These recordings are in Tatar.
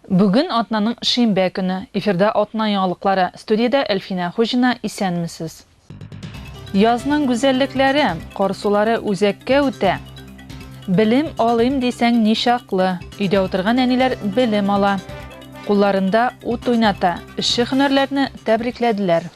Бүген атнаның шимбә көне. Эфирда атна яңалыклары. Студиядә Әлфинә Хуҗина. Исәнмесез! Язның гүзәллекләре, кар сулары үзәккә үтә. Белем алыйм дисәң ничаклы, өйдә утырган әниләр белем ала. Кулларында ут уйната, эшче һөнәрләрне тәбрикләделәр.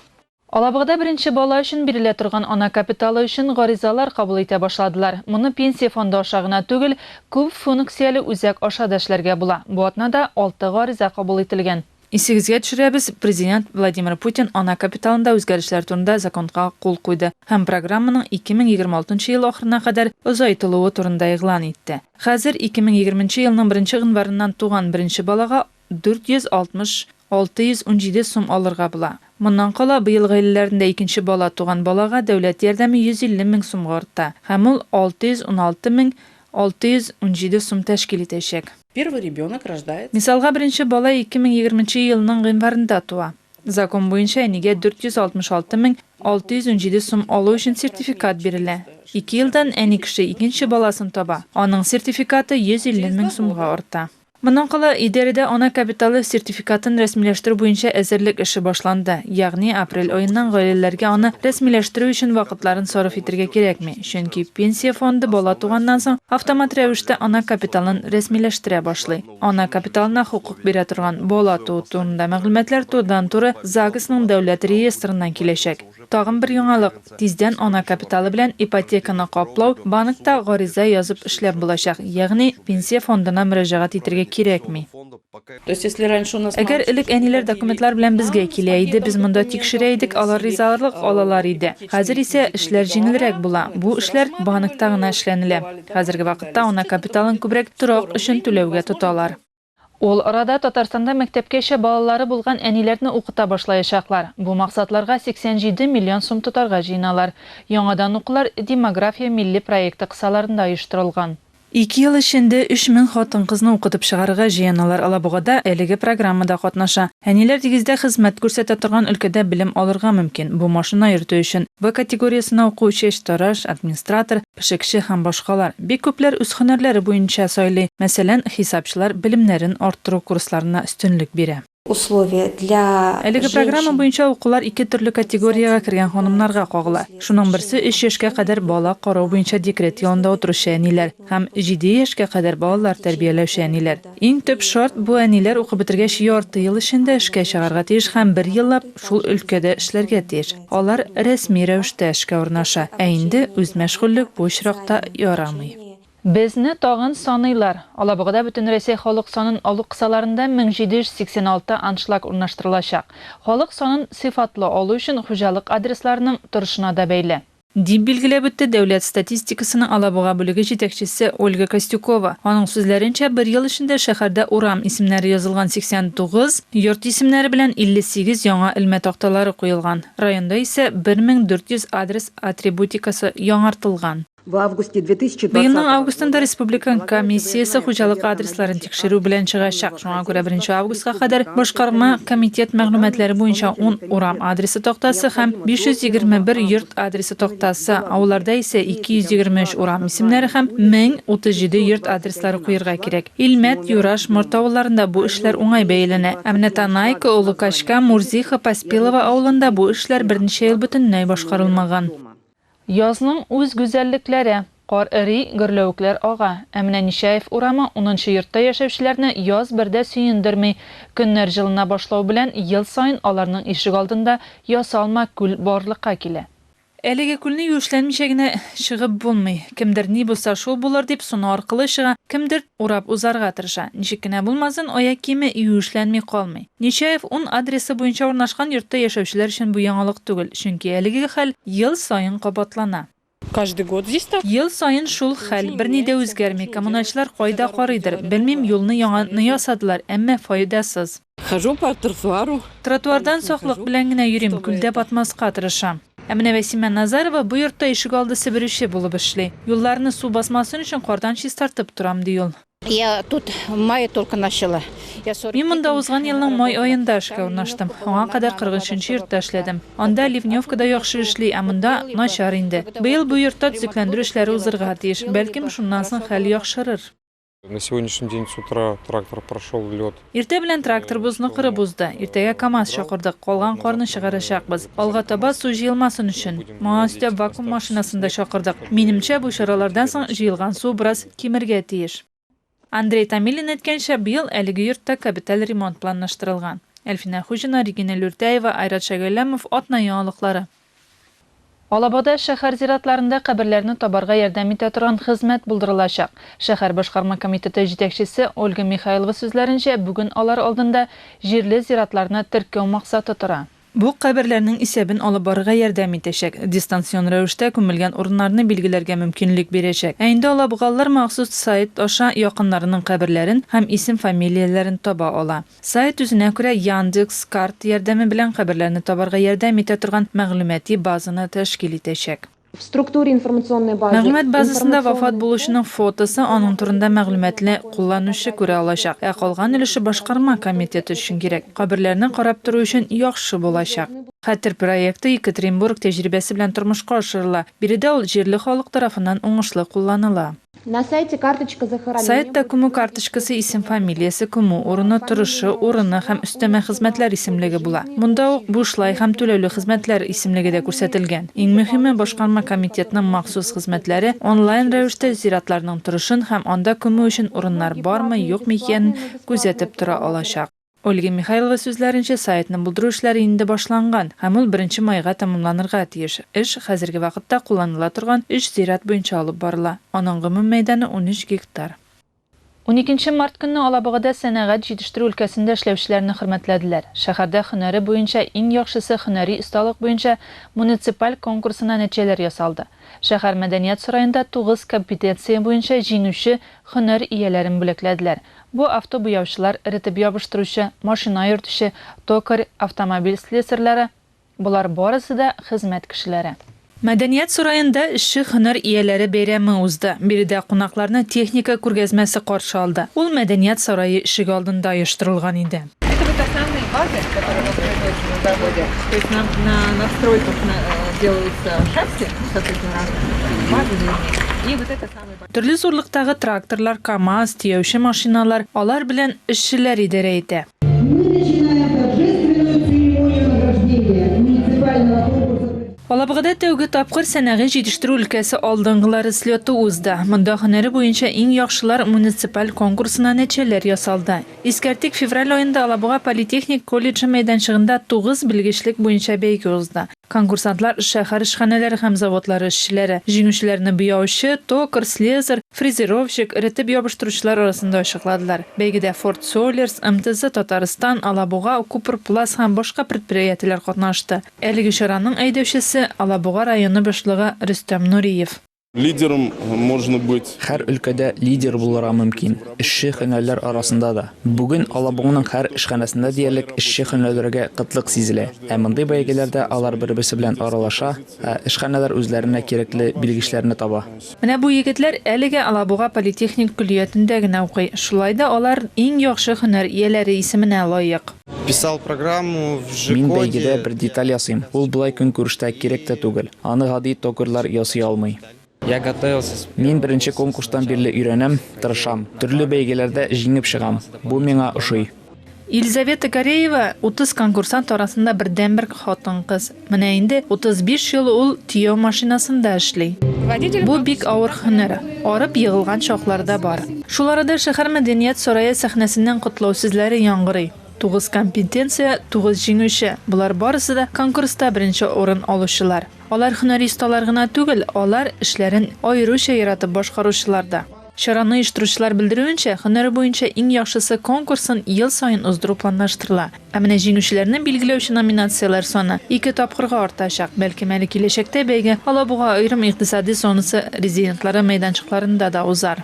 Алабугада беренче бала өчен бирелә торган ана капиталы өчен гаризалар кабул итә башладылар. Моны Пенсия фонды аша гына түгел, күп функцияле үзәк аша да эшләргә була. Бу атнада алты гариза кабул ителгән. Исегезгә төшерәбез, Президент Владимир Путин ана капиталында үзгәрешләр турында законга кул куйды һәм программаның 2026 нчы ел ахырына кадәр озайтылуы турында игълан итте. Хәзер, 2020 нче елның беренче гыйнварыннан туган беренче балага 460, 617 сум алырга була. Моннан кала, быел гаиләләрендә икенче бала туган балага дәүләт ярдәме 150 мең сумга арта һәм ул 616 мең 617 сум тәшкил итәчәк. Первый ребенок рождается. Мисалга, беренче бала 2020 нче елның гыйнварында туа. Закон буенча, әнигә 466 мең 617 сум алу өчен сертификат бирелә. Ике елдан әни кеше икенче баласын таба, аның сертификаты 150 мең сумга арта. Моннан кала, идарәдә ана капиталы сертификатын рәсмиләштерү буенча әзерлек эше башланды. Ягъни, апрель аеннан гаиләләргә аны рәсмиләштерү өчен вакытларын сарыф итәргә кирәкми, чөнки Пенсия фонды бала туганнан соң автомат рәвештә ана капиталын рәсмиләштерә башлый. Ана капиталына хокук бирә торган бала туу турында мәгълүматлар турыдан-туры ЗАГСның дәүләт реестрыннан киләчәк. Тагын бер яңалык, тиздән ана капиталы белән ипотеканы каплау банкта гариза язып эшләп булачак, ягъни пенсия фондына мөрәҗәгать итергә кирәкми. Әгәр элек әниләр документлар белән безгә килә иде, без монда тикшерә идек, алар ризаларлык алалар иде. Хәзер исә эшләр җиңелрәк була. Бу эшләр банкта гына эшләнелә. Хәзерге вакытта ана капиталын күбрәк торак өчен түләүгә тоталар. Ул арада Татарстанда мәктәпкәчә балалары булган әниләрне укыта башлаячаклар. Бу максатларга 87 миллион сум тотарга җыеналар. Яңадан укулар Демография милли проекты кысаларында оештырылган. Ике ел эчендә 3000 хатын-кызны укытып чыгарырга җыеналар. Алабуга да әлеге программада катнаша. Әниләр дигездә хезмәт күрсәтә торган өлкәдә белем алырга мөмкин. Бу машина йөртү өчен В категориясенә укучы, чтараш, администратор, пешекче һәм башкалар. Бик күпләр үз һөнәрләре буенча сайлый. Мәсәлән, хисапчылар белемнәрен арттыру курсларына өстенлек бирә. Условия для женщин. Әлеге программа буенча укулар ике төрле категориягә кергән ханымнарга кагыла. Шуның берсе өч яшькә кадәр бала карау буенча декрет ялында утыручы әниләр һәм җиде яшькә кадәр балалар тәрбияләүче әниләр. Иң төп шарт, бу әниләр укып бетергәч ярты ел эчендә эшкә чыгарга тиеш һәм бер еллап шул өлкәдә эшләргә тиеш. Алар рәсми рәвештә эшкә урнаша, ә инде үзмәшгульлек бу очракта ярамый. Безне тагын саныйлар. Алабугада Бөтенрәсәй халык санын алу кысаларында 1786 аншлаг урнаштырылачак. Халык санын сыйфатлы алу өчен хуҗалык адресларының торышына да бәйле. Дип билгеләп үтте Дәүләт статистикасының Алабуга бүлеге җитәкчесе Ольга Костюкова. Аның сүзләренчә, бер ел эчендә шәһәрдә урам исемнәре язылган 89, Йорт исемнәре белән 58 яңа элмә такталары куелган. Районда исә 1400 адрес атрибутикасы яңартылган. Быелның августында республиканың комиссиясе хуҗалык адресларын тикшерү белән чыгачак. Шуңа күрә беренче августка кадәр башкарма комитет мәгълүматлары буенча ун урам адресы тактасы һәм 521 йорт адресы тактасы, авылларда исә 223 урам исемнәре һәм 1037 йорт адреслары куерга кирәк. Илмәт, Юраш, Морт авылларында бу эшләр уңай бәяләнә. Ә менә Танайка, Олы Качка, Мурзиха, Поспилово авылында бу эшләр берничә ел бөтенләй башкарылмаган. Язның үз гүзәллекләре. Кар эри, гөрләвекләр ага. Ә менә Нечаев урамы унынчы йортта яшәүчеләрне яз бер дә сөендерми. Көннәр җылына башлау белән, ел саен аларның ишегалдында ясалма күл барлыкка килә. Әлеге күлне юешләнмичә генә чыгып булмый. Кемдер ни булса шул булыр дип суны аркылы чыга, кемдер урап узарга тырыша. Ничек кенә булмасын, аяк киеме юешләнми калмый. Нечаев ун адресы буенча урнашкан йортта яшәүчеләр өчен бу яңалык түгел, чөнки әлеге хәл ел саен кабатлана. Каждый год здесь так. Ел саен шул хәл, берни дә үзгәрми. Коммуналчылар кайда карыйдыр, белмим, юлны яңа ны ясадылар, әмма файдасыз. Хожу по тротуару. Тротуардан саклык белән генә йөрим, күлдә батмаска тырышам. Ә менә Вәсимә Назарова бу йортта ишегалды себерүче булып эшли. Юлларны су басмасын өчен кардан чистартып торам, ди ул. Я тут в мае только начала. Мин монда узган елның май аенда эшкә урнаштым. Аңа кадәр 43 йортта эшләдем. Анда ливневка да яхшы эшли, ә монда, начар инде. Быел бу йортта төзекләндерү эшләре узырга тиеш. Бәлкем, шуннан соң хәл яхшырыр. На сегодняшний день с утра трактор прошел лед. Иртә белән трактор бозны кырып узды. Иртәгә КАМАЗ чакырдык, калган карны чыгарачакбыз. Алга таба су җыелмасын өчен. Моңа өстәп вакуум машинасын да чакырдык. Минемчә, бу чаралардан соң җыелган су бераз кимергә тиеш. Андрей Томилин әйткәнчә, быел әлеге йортта кабиталь ремонт планлаштырылган. Әлфинә Хуҗина, Регина Люртяева, Айрат Шәгәлләмов, Атна яңалыклары. Алабада шәһәр зиратларында каберләрне табарга ярдәм итә торган хезмәт булдырылачак. Шәһәр башкарма комитеты җитәкчесе Ольга Михайлова сүзләренчә, бүген алар алдында җирле зиратларны теркәү максаты тора. Бу каберләрнең исәбен алып барырга ярдәм итәчәк, дистанцион рәвештә күмелгән урыннарны билгеләргә мөмкинлек бирәчәк. Ә инде алабугалылар махсус сайт аша якыннарының каберләрен һәм исем-фамилияләрен таба ала. Сайт үзенә күрә Яндекс. Карт ярдәме белән каберләрне табарга ярдәм итә торган мәгълүмати базаны тәшкил итәчәк. В структуре информационной базы Мәгълүмат базасында вафат булучының фотосы, аның турында мәгълүматны кулланучы күрә алачак, ә калган өлеше башкарма комитеты өчен кирәк. Каберләрне карап тору өчен яхшы булачак. Хәтер проекты Екатеринбург тәҗрибәсе белән тормышка ашырыла. Биредә ул җирле халык тарафыннан уңышлы кулланыла. На сайте карточка захоронения. Сайтта күмү карточкасы исем-фамилиясе, күмү урыны, торышы, урыны һәм өстәмә хезмәтләр исемлеге була. Монда ук бушлай һәм түләүле хезмәтләр исемлеге дә күрсәтелгән. Иң мөһиме, башкарма комитетның махсус хезмәтләре онлайн рәвештә зиратларның торышын һәм анда күмү өчен урыннар бармы, юкмы икәнен күзәтеп тора алачак. Ольга Михайлова сүзләренчә, сайтны булдыру эшләре инде башланган һәм ул беренче майга тәмамланырга тиеш. Эш хәзерге вакытта кулланыла торган өч зират буенча алып барыла. Аның гомум мәйданы унөч гектар. Уникенче март көнне Алабугада сәнәгать җитештерү өлкәсендә эшләүчеләрне хөрмәтләделәр. Шәһәрдә һөнәре буенча иң яхшысы һөнәри осталык буенча муниципаль конкурсына нәтиҗәләр ясалды. Шәһәр мәдәният сараенда тугыз компетенция буенча җиңүче һөнәр ияләрен бүләкләделәр, Бу автобуяучылар, эретеп ябыштыручы, машина йөртүче, токарь, автомобиль слесарьлары, болар барысы да хезмәт кешеләре. Мәдәният сараенда эшче һөнәр ияләре бәйрәме узды. Биредә кунакларны техника күргәзмәсе каршы алды. Ул Мәдәният сарае ишеге алдында оештырылган иде. Это вот основные базы, которые у нас производятся на заводе. То есть на на надстройках на делаются шасси, соответственно, разных базы и вот это самый большой. Төрле зурлыктагы тракторлар, КАМАЗ, төяүче машиналар, алар белән эшчеләр идарә итә. Алабугада тәүге тапкыр сәнәгать җитештерү өлкәсе алдынгылары слеты узды. Монда һөнәре буенча иң яхшылар муниципаль конкурсына нәтиҗәләр ясалды. Искәртик, февраль аенда Алабуга политехник колледжы мәйданчыгында тугыз белгечлек буенча бәйге узды. Конкурсантлар, шәһәр эшханәләре һәм заводлары эшчеләре. Җиңүчеләрне буяучы, токарь, слесарь, фрезеровщик, эретеп ябыштыручылар арасында ачыкладылар. Бәйгедә Форд Солерс, МТЗ Татарстан, Алабуга, Купрпласт һәм башка предприятиеләр катнашты. Әлеге чараның әйдәүчесе, Алабуга районы башлыгы Рөстәм Нуриев. Лидером можно быть. Хәр өлкәдә лидер булырга мөмкин, эшче һөнәрләр арасында да. Бүген Алабуганың хәр эшханәсендә диярлек эшче һөнәрләргә кытлык сизелә. Ә мондый бәйгеләрдә алар бер-берсе белән аралаша, ә эшханәләр үзләренә кирәкле белгечләрне таба. Менә бу егетләр әлегә Алабуга политехник көллиятендә генә укый, шулай да алар иң яхшы һөнәр ияләре исеменә лаек. Мин бәйгедә бер деталь ясыйм. Ул болай көнкүрештә кирәк тә түгел. Аны гади токарьлар ясый алмый. Мин беренче конкурстан бирле өйрәнәм, тырышам. Төрле бәйгеләрдә җиңеп чыгам. Бу миңа ошый. Елизавета Кореева, 30 конкурсант арасында бердәнбер хатын-кыз. Менә инде 35 ел ул төяү машинасында эшли. Бу бик авыр һөнәр, арып егылган чаклар да бар. Шул арада шәһәр мәдәният сарае сәхнәсеннән котлау сүзләре яңгырый. Тугыз компетенция, тугыз җиңүче, болар барысы да конкурста беренче урын алучылар. Алар һөнәри осталар гына түгел, алар, эшләрен аеруча яратып башкаручылар да. Чараны оештыручылар белдерүенчә, һөнәре буенча иң яхшысы конкурсын ел саен уздыру планлаштырыла. Ә менә җиңүчеләрне билгеләүче номинацияләр саны ике тапкырга артачак. Бәлкем әле киләчәктә бәйге Алабуга аерым икътисади зонасы резидентлары мәйданчыкларында да узар.